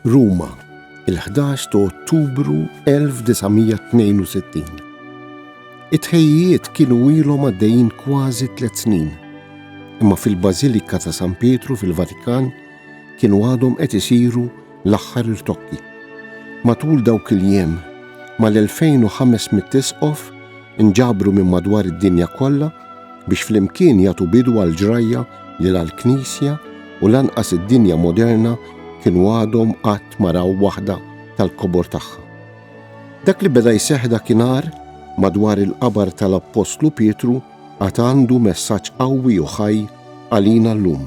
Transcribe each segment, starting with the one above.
Ruma, il-11 ta' Ottubru 1962. It-ħejjiet kienu ilhom għaddejjin kważi tliet snin, imma fil-Bażilika ta' San Pietru fil-Vatikan kienu għadhom qed isiru L-aħħar irtokki. Matul dawk il-jiem, mal-2,500 isqof inġabru minn madwar id-dinja kollha biex flimkien jagħtu bidu għall-ġrajja li la l-Knisja u lanqas id-dinja moderna kienu għadhom qatt ma raw waħda tal-kobor tagħha. Dak li beda jseħħ dakinhar madwar il-qabar tal-Appostlu Pietru għad għandu messaġġ qawwi u ħaj għalina llum.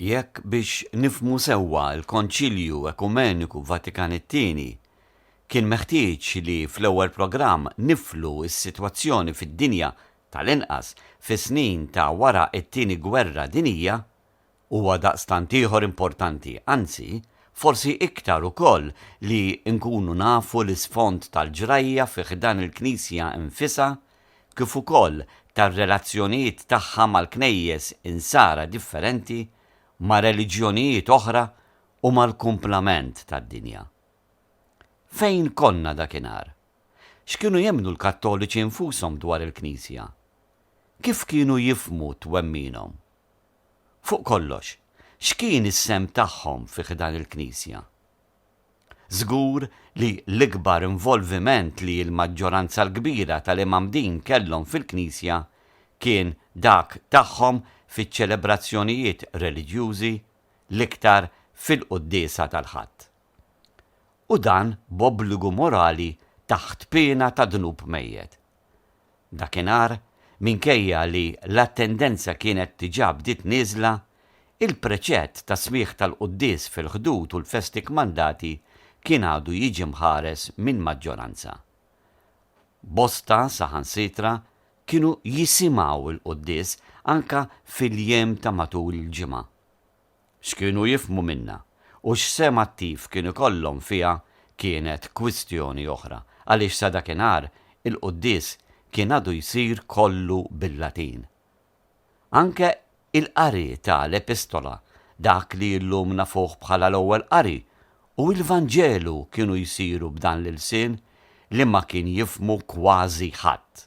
Jekk biex nifhmu sewwa l-Konċilju Ekumeniku Vatikan it-Tieni kien meħtieġ li fl-ewwel programm niflu s-sitwazzjoni fid-dinja tal-inqas fis-snin ta' wara t-Tieni Gwerra Dinjija, huwa daqstant ieħor importanti, anzi, forsi iktar ukoll li nkunu nafu l-isfond tal-ġrajja fi ħdan il-Knisja nfisha kif ukoll tar-relazzjonijiet tagħha mal-Knejjes Insara differenti, ma' reliġjonijiet oħra u mal-kumplament tad-dinja. Fejn konna dakinhar? X'kienu jemmnu l-Kattoliċi nfushom dwar il-Knisja? Kif kienu jifhmu twemminhom? Fuq kollox, x'kien is-sehem tagħhom fi ħdan il-Knisja? Żgur li l-ikbar involviment li l-maġġoranza l-kbira tal-Imgħammdin kellhom fil-Knisja kien dak tagħhom fiċ-ċelebrazzjonijiet reliġjużi, l-iktar fil-Quddiesa tal-Ħadd. U dan b'obbligu morali taħt piena ta' dnub mejjet. Dakinhar, minkejja li l-attendenza kienet diġà bdiet nieżla, il-preċett ta' smigħ tal-quddies fil-Ħdud u l-festi kmandati kien għadu jiġi mħares minn maġġoranza. Bosta saħansitra kienu jisimgħu l-quddies anke fil-jiem ta' matul il-ġimgħa. X'kienu jifhmu minnha u x'sehem attiv kien ikollhom fiha kienet kwistjoni oħra, għaliex sa dakinhar il-quddies kien għadu jsir kollu bil-Latin. Anke il-qari ta' l-Epistola, dak li illum nafuh bħala l-Ewwel Qari, u l-Vanġelu kienu jsiru b'dan l-ilsien li ma kien jifhmu kważi ħadd.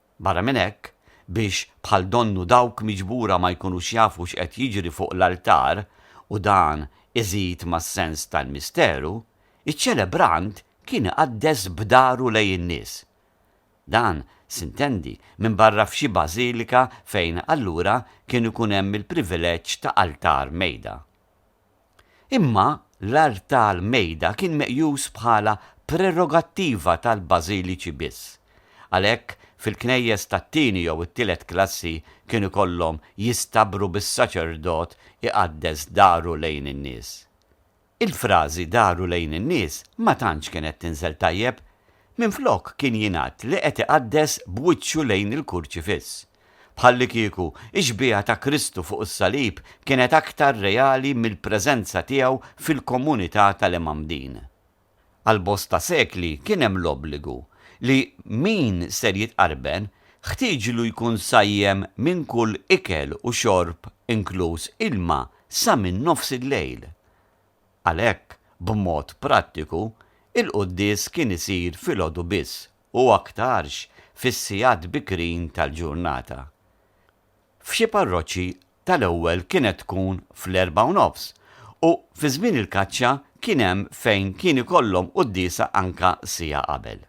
Barra minn hekk, biex bħal donnu dawk miġbura ma jkunux jafu x'qed jiġri fuq l-altar u dan iżid mas-sens tal-misteru, iċ-ċelebrant kien iqaddes b'dahru lejn in-nies. Dan sintendi minbarra f'xi bażilika fejn allura kien ikun hemm il-privileġġ ta' altar mejda. Imma l-art tal-mejda kien meqjus bħala prerogattiva tal-bażiliċi biss. Għalhekk, fil-knejjes tat-tieni jew it-tielet klassi kien ikollhom jistabbru bis-saċerdot iqaddes daru lejn in-nies. Il-frażi daru lejn in-nies ma tantx kienet tinżel tajjeb. Minflok kien jingħad li qed iqaddes b'wiċċu lejn il-kurċifiss. Bħallikieku, ix-xbieha ta' Kristu fuq is-salib kienet aktar reali mill-preżenza tiegħu fil-komunità tal-Imgħammdin. Għal bosta sekli kien hemm l-obbligu li min ser jitqarben ħtieġlu jkun sajjem minn kull ikel u xorb inkluż ilma sa minn nofs il-lejl. Għalhekk, b'mod prattiku, il-quddies kien isir filgħodu biss u aktarx fis-sigħat bikrin tal-ġurnata. F'xi parroċċi tal-ewwel kienet tkun fl-erbgħa u nofs u fi żmien il-kaċċa kien hemm fejn kien ikollhom quddiesa anke siegħa qabel.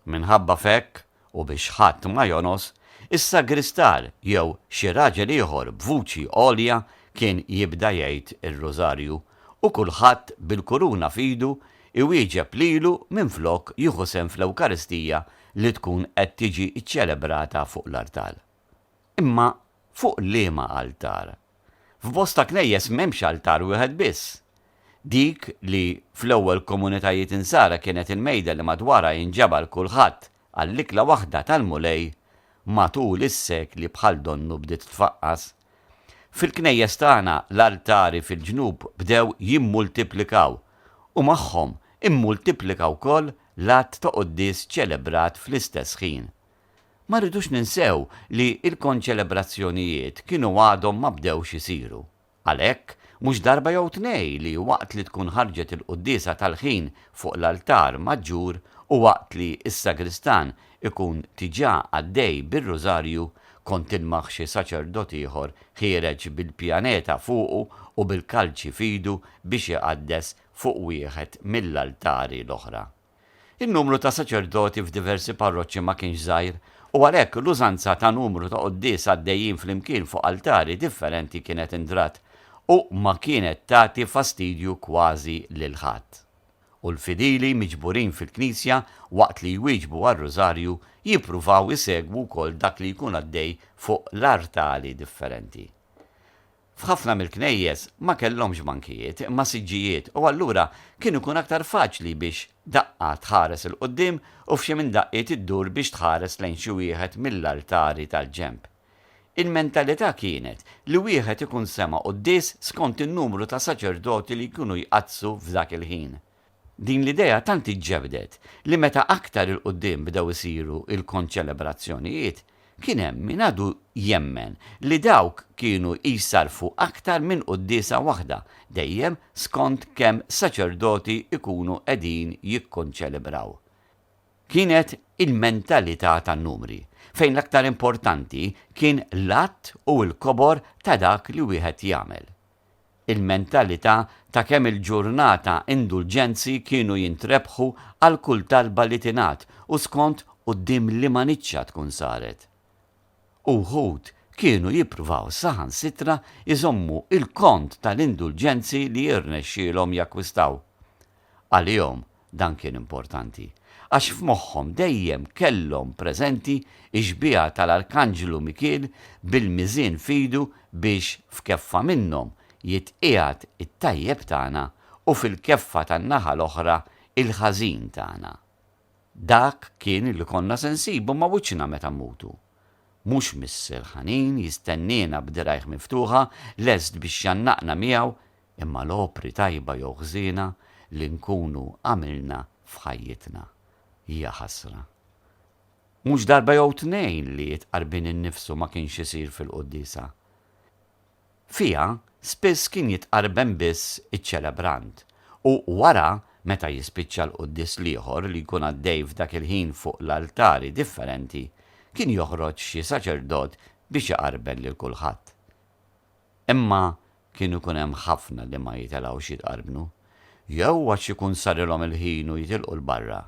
Minħabba f'hekk u biex ħadd ma jonqos, is-sagristar jew xi raġel ieħor b'vuċi għolja kien jibda jgħid ir-Rużarju u kulħadd bil-kuruna f'idu iwieġeb lilu minflok jieħu sehem fl-Ewkaristija li tkun qed tiġi ċċelebrata fuq l-artal. Imma fuq liema altar? F'bosta knejjes m'hemmx altar wieħed biss. Dik li fl-ewwel komunitajiet Insara kienet il-mejda li madwarha jinġabar kulħadd għall-ikla waħda tal-Mulej, matul is-sekli bħal donnu bdiet tfaqqas. Fil-knejjes tagħna l-altari fil-ġnub bdew jimmultiplikaw u magħhom immultiplika wkoll l-għadd ta' quddies ċelebrat fl-istess ħin. Ma rridux ninsew li l-konċelebrazzjonijiet kienu għadhom ma bdewx isiru. Għalhekk, mhux darba jew tnej li waqt li tkun ħarġet il-quddiesa tal-ħin fuq l-altar maġġur u waqt li s-sagristan ikun diġà għaddej bir-Rużarju kont tilmaħ xi saċerdot ieħor ħiereġ bil-pjaneta fuqu u bil-kalċi f'idu biex iqaddes fuq wieħed mill-altari l-oħra. In-numru ta' saċerdoti f'diversi parroċċi ma kienx żgħir u għalhekk l-użanza ta' numru ta' quddies għaddejjin flimkien fuq altari differenti kienet indrat u ma kienet tagħti fastidju kważi lil ħadd. u l-fidili miġburin fil-knisja waqt li jwieġbu għar-Rużarju jippruvaw isegwu wkoll dak li jkun għaddej fuq l-artali differenti. F'ħafna mill-knejjes ma kellhomx bankijiet imma siġġijiet u allura kien ikun aktar faċli biex daqqa tħares 'il quddiem u f'xi minn daqqiet iddur biex tħares lejn xi wieħed mill-artali tal-ġenb. Il-mentalità kienet li wieħed ikun sema' quddies skont in-numru ta' saċerdoti li jkunu jqaddsu f'dak il-ħin. Din l-idea tant iġġebdet li meta aktar 'il quddiem bdew isiru l-konċelebrazzjonijiet, kien hemm min għadu jemmen li dawk kienu jsarrfu aktar minn quddiesa waħda, dejjem skont kemm saċerdoti jkunu qegħdin jikkonċelebraw. kienet il-mentalità tan-numri, fejn l-aktar importanti kien l-għadd u l-kobor ta' dak li wieħed jagħmel. Il-mentalità ta' kemm il-ġurnata indulġenzi kienu jintrebħu għal kull talba li tingħad u skont quddiem liema niċċa tkun saret. U wħud kienu jippruvaw saħansitra jżommu l-kont tal-indulġenzi li jirnexxielhom jakkwistaw. Għalihom Dan kien importanti għax f'moħħhom dejjem kellhom preżenti x-xbieha tal-Arkanġlu Mikiel bil-miżien f'idu biex f'keffa minnhom jitqiegħed it-tajjeb tagħna u fil-keffa tan-naħa l-oħra il-ħażin tagħna. Dak kien li konna se nsibu ma' wiċċna meta mmutu. Mhux Missier ħanin jistenniena b'dirgħajh miftuħa lest biex jgħannaqna miegħu imma l-opri tajba jew ħżiena li nkunu għamilna f'ħajjitna. Hija ħasra. Mhux darba jew tnejn li t-tqarbin innifsu ma kienx isir fil-quddiesa. Fiha spiss kien jitqarben biss iċ-ċelebrant, u wara meta jispiċċa l-quddies l-ieħor li jkun għaddej f'dak il-ħin fuq l-altari differenti, kien joħroġ xi saċerdot biex iqarben lil kulħadd. Imma kien ikun hemm ħafna li ma jitelgħux jitqarbnu, jew għax ikun sarilhom il-ħin u jitilqu 'l barra,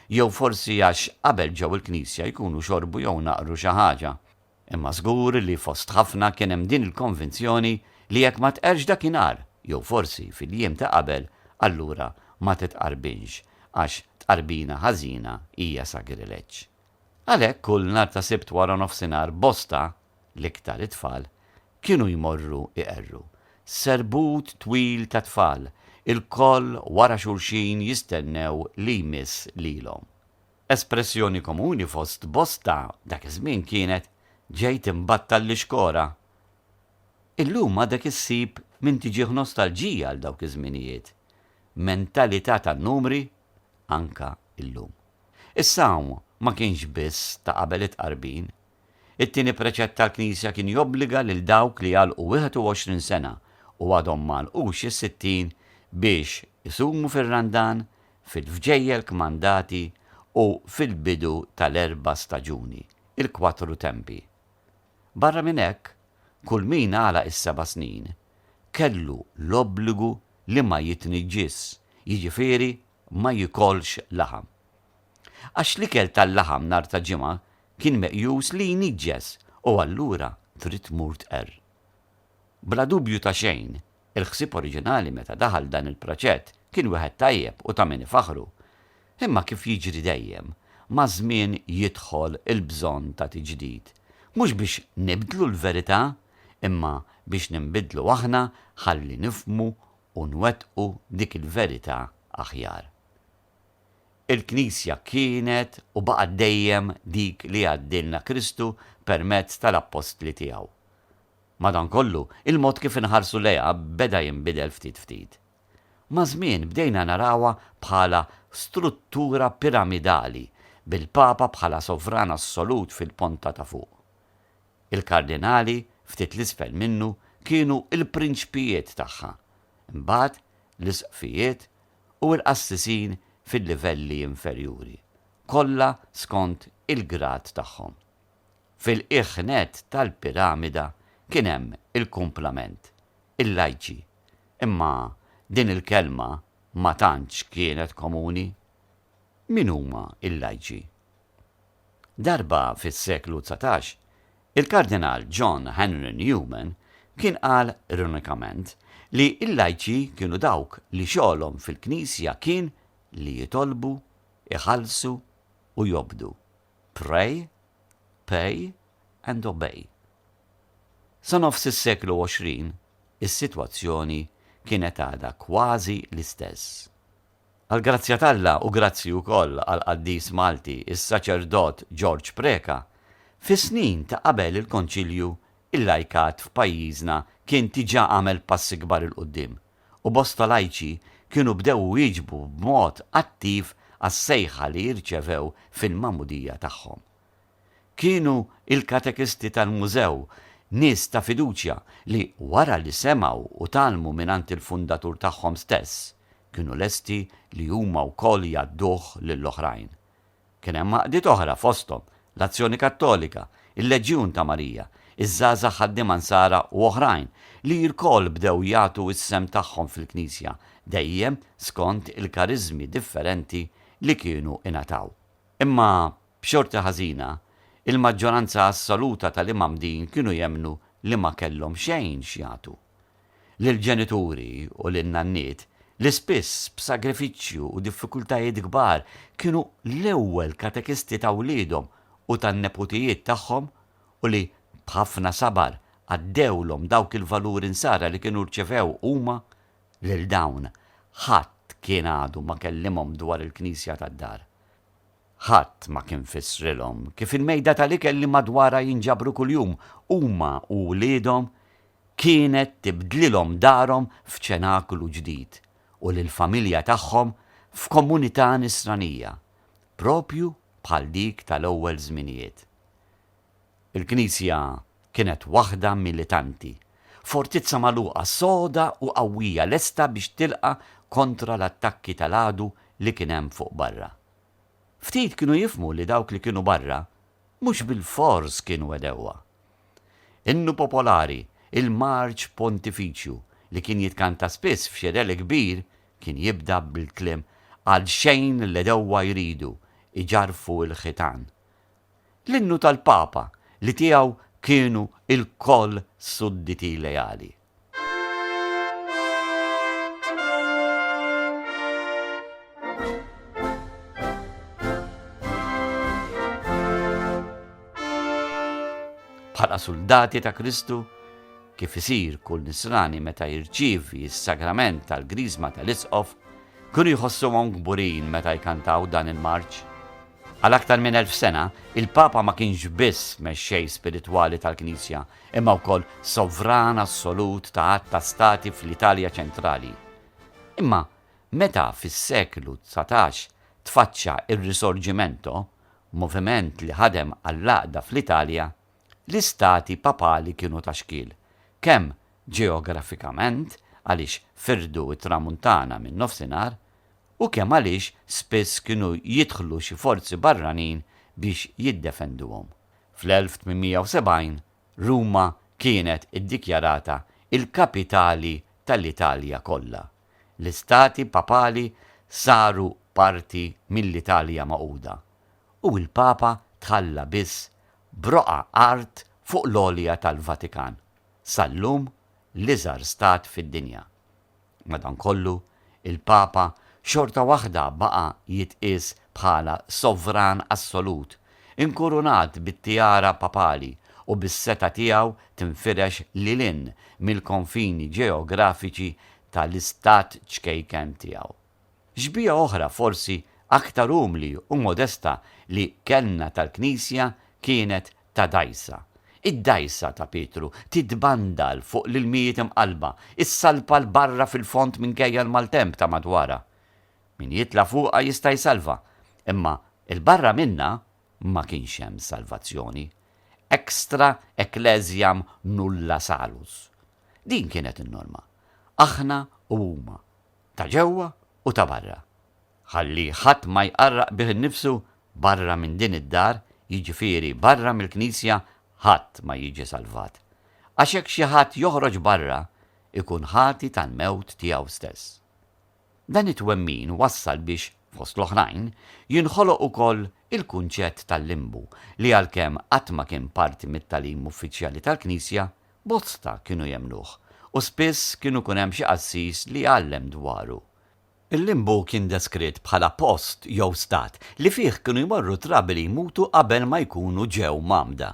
jew forsi għax qabel ġew il-knisja jkunu xorbu jew naqru xi ħaġa. Imma żgur li fost ħafna kien hemm din il-konvinzjoni li jekk ma tqerrx dakinhar, jew forsi fil-jiem ta' qabel, allura ma titqarbinx, għax tqarbina ħażina hija sagrileġġ. Għalhekk kull nhar ta' Sibt wara nofsinhar bosta, l-iktar it-tfal, kienu jmorru iqerru. Serbut twil ta' tfal, ilkoll wara xulxin jistennew li jmiss lilhom. Espressjoni komuni fost bosta dak iż-żmien kienet, Ġejt imbattal l-ixkora. Illum għadek issib min tiġih nostalġija għal dawk iż-żminijiet. Mentalità tan-numri, anke llum. Is-sawm ma kienx biss ta' qabel it-tqarbin. It-tieni preċett tal-Knisja kien jobbliga lil dawk li għalqu 21 sena u għadhom ma għalqux is-sittin biex isumu fir-Randan, fil-vġejjel kmandati u fil-bidu tal-erba' staġuni, il-Quattro Tempi. Barra minn hekk, kull min għalaq is-seba' snin kellu l-obbligu li ma jitniġġisx, jiġifieri ma jikolx laħam. Għax l-ikel tal-laħam nhar ta' ġimgħa kien meqjus li jniġġes u allura trid tmur tqerr. Bla dubju ta' xejn, il-ħsieb oriġinali meta daħal dan il-proġett kien wieħed tajjeb u ta' min ifaħħru. Imma kif jiġri dejjem, maż-żmien jidħol il-bżonn ta' tiġdid. Mhux biex nibdlu l-verità, imma biex ninbidlu aħna ħalli nifhmu u nwettqu dik il-verità aħjar. Il-Knisja kienet u baqgħet dejjem dik li għaddilna Kristu permezz tal-Appostli tiegħu. Madankollu, il-mod kif inħarsu lejha beda jinbidel ftit ftit. Maż-żmien bdejna narawha bħala struttura piramidali, bil-Papa bħala sovran assolut fil-ponta ta' fuq. Il-kardinali ftit 'l isfel minnu kienu l-prinċpijiet tagħha, imbagħad l-isqfijiet u l-qassisin fil-livelli inferjuri, kollha skont il-grad tagħhom. Fil-qiegħ nett tal-piramida kien hemm il-kumplament, il-lajċi, imma din il-kelma ma tantx kienet komuni. Min huma l-lajċi? Darba fis-seklu dsatax, il-Kardinal John Henry Newman kien qal ironikament li l-lajċi kienu dawk li xogħolhom fil-Knisja kien li jitolbu, iħallsu u jobdu, pray, pay and obey. Sa nofs is-seklu 20 is-sitwazzjoni kienet għadha kważi l-istess. Għall-grazzja t'Alla u grazzi wkoll għall-qaddis Malti s-saċerdot George Preca, fis-snin ta' qabel il-Konċilju il-lajkat f'pajjiżna kien diġà għamel passi kbar 'il quddiem u bosta lajċi kienu bdew iwieġbu b'mod attiv għas-sejħa li rċevew fil-magħmudija tagħhom. Kienu il-katekisti tal-Mużew nies ta' fiduċja li wara li semgħu u tgħallmu mingħand il-fundatur tagħhom stess, kienu lesti li huma wkoll jgħadduh lil oħrajn. Kien hemm għaqdiet oħra fosthom, l-Azzjoni Kattolika, il-Leġjun ta' Marija, iż-Żgħażagħ Ħaddiema Nsara u oħrajn li lkoll bdew jagħtu s-sehem tagħhom fil-Knisja dejjem skont il-kariżmi differenti li kienu ingħataw. Imma, b'xorti ħażina, il-maġġoranza assoluta tal-imgħammdin kienu jemmnu li ma kellhom xejn x'jagħtu. lill-ġenituri u lin-nanniet li spiss b'sagrifiċċju u diffikultajiet kbar kienu l-ewwel katekisti ta' wliedhom u tan-neputijiet tagħhom u li b'ħafna sabar għaddewlhom dawk il-valuri nsara li kienu rċevew huma, lil dawn ħadd kien għadu ma kellimhom dwar il-Knisja tad-dar. Ħadd ma kien fissrilhom kif il-mejda tal-ikel li madwarha jinġabru kuljum huma u wliedhom kienet tibdlilhom darhom f'ċenaklu ġdid u lill-familja tagħhom f'komunità Nisranija, proprju bħal dik tal-ewwel żminijiet. Il-Knisja kienet waħda militanti, fortizza magħluqa soda u qawwija lesta biex tilqa' kontra l-attakki tal-għadu li kien hemm fuq barra. Ftit kienu jifhmu li dawk li kienu barra mhux bilfors kienu għedewwa. Innu popolari, il-Marċ Pontifiċju, li kien jitkanta spiss f'xedel kbir, kien jibda bil-kliem Għalxejn l-għedewwa jridu jġarrfu l-ħitan. L-innu tal-Papa li tiegħu kienu lkoll sudditi leali. bħala suldati ta' Kristu, kif isir kull nisrani meta jirċievi s-sagrament tal-grizma tal-isqof, kienu jħossuhom kburin meta jkantaw dan il-marċ. Għal aktar minn elf sena, il-Papa ma kienx biss mexxej spiritwali tal-Knisja, imma wkoll sovran assolut ta' għadd ta' stati fl-Italja ċentrali. Imma meta fis-seklu dsatax tfaċċa r-Risorgimento, moviment li ħadem għall-għaqda fl-Italja, l-istati papali kienu ta' xkiel, kemm ġeografikament għaliex firdu t-Tramuntana min-Nofsinhar u kemm għaliex spiss kienu jidħlu xi forzi barranin biex jiddefenduhom. Fl-1870 Ruma kienet iddikjarata l-kapitali tal-Italja kollha. L-istati papali saru parti mill-Italja Magħquda, u l-Papa tħalla biss b'roqgħa art fuq l-għolja tal-Vatikan, sal-lum l-iżgħar stat fid-dinja. Madankollu, il-Papa xorta waħda baqa' jitqies bħala sovran assolut, inkurunat bit-tiara papali u bis-setgħa tiegħu tinfirex lil hinn mill-konfini ġeografiċi tal-istat ċkejken tiegħu. Xbieha oħra forsi aktar umli u modesta li kellna tal-Knisja kienet ta' dgħajsa. Id-dgħajsa ta' Pietru titbandal fuq l-ilmijiet imqallba, issalpa 'l barra fil-fond minkejja l-maltemp ta' madwarha. Min jitla' fuqha jista' jsalva, imma 'l barra minnha ma kienx hemm salvazzjoni. Extra ecclesiam nulla salus. Din kienet in-norma. Aħna u huma, ta' ġewwa u ta' barra, ħalli ħadd ma jqarraq bih innifsu barra minn din id-dar, jiġifieri barra mill-knisja ħadd ma jiġi salvat. Għax jekk xi ħadd joħroġ barra, ikun ħati tal-mewt tiegħu stess. Dan it-twemmin wassal biex, fost l-oħrajn, jinħoloq ukoll il-kunċett tal-limbu li għalkemm qatt ma kien parti mit-tagħlim uffiċjali tal-knisja, Bosta kienu jemmnuh u spiss kienu jkun hemm xi qassis li jgħallem dwaru. Il-Limbu kien deskritt bħala post jew stat li fih kienu jmorru trabi li jmutu qabel ma jkunu ġew mgħammda.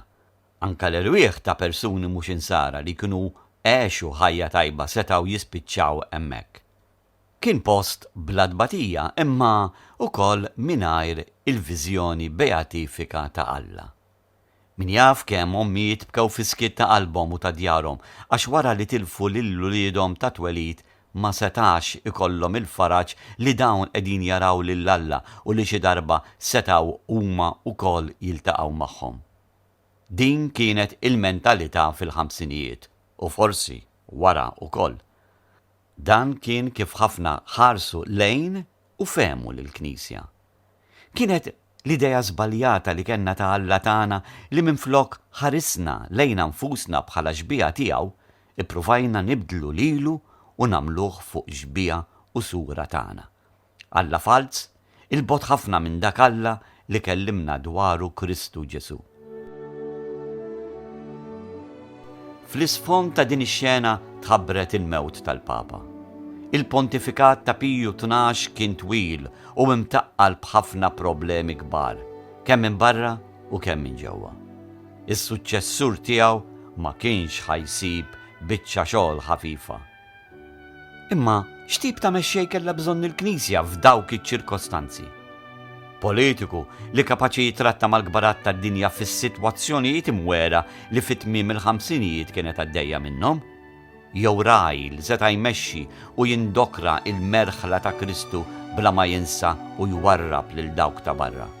Anke l-erwieħ ta' persuni mhux Insara li kienu għexu ħajja tajba setgħu jispiċċaw hemmhekk. Kien post bla tbatija imma ukoll mingħajr il-viżjoni beatifika ta' Alla. Min jaf kemm ommijiet bkew fis-skiet ta' qalbhom u ta' djarhom għax wara li tilfu lil uliedhom ta' twelid ma setgħax ikollhom il-faraġ li dawn qegħdin jaraw lil Alla u li xi darba setgħu huma wkoll jiltaqgħu magħhom. Din kienet il-mentalità fil-ħamsinijiet u forsi wara wkoll. Dan kien kif ħafna ħarsu lejn u fehmu lill-Knisja. Kienet l-idea żbaljata li kellna ta' Alla tagħna li minflok ħarisna lejna nfusna bħala xbieha tiegħu, ippruvajna nibdlu lilu u nagħmluh fuq xbieha u sura tagħna. Alla falz, 'il bogħod ħafna minn dak Alla li kellimna dwaru Kristu Ġesù. Fl-isfond ta' din ix-xena tħabbret il-mewt tal-Papa. Il-pontifikat ta' Piju Tnax kien twil u imtaqqal b'ħafna problemi kbar, kemm minn barra u kemm minn ġewwa. Is-suċċessur tiegħu ma kienx ħa jsib biċċa xogħol ħafifa. Imma x'tip ta' mexxej kellha bżonn il-Knisja f'dawk iċ-ċirkostanzi? Politiku li kapaċi jitratta mal-kbarat tad-dinja fis-sitwazzjonijiet imwegħra li fi tmiem il-ħamsinijiet kienet għaddejja minnhom? Jew ragħaj li seta' jmexxi u jindokra l-merħla ta' Kristu bla ma jinsa u jwarrab lil dawk ta' barra?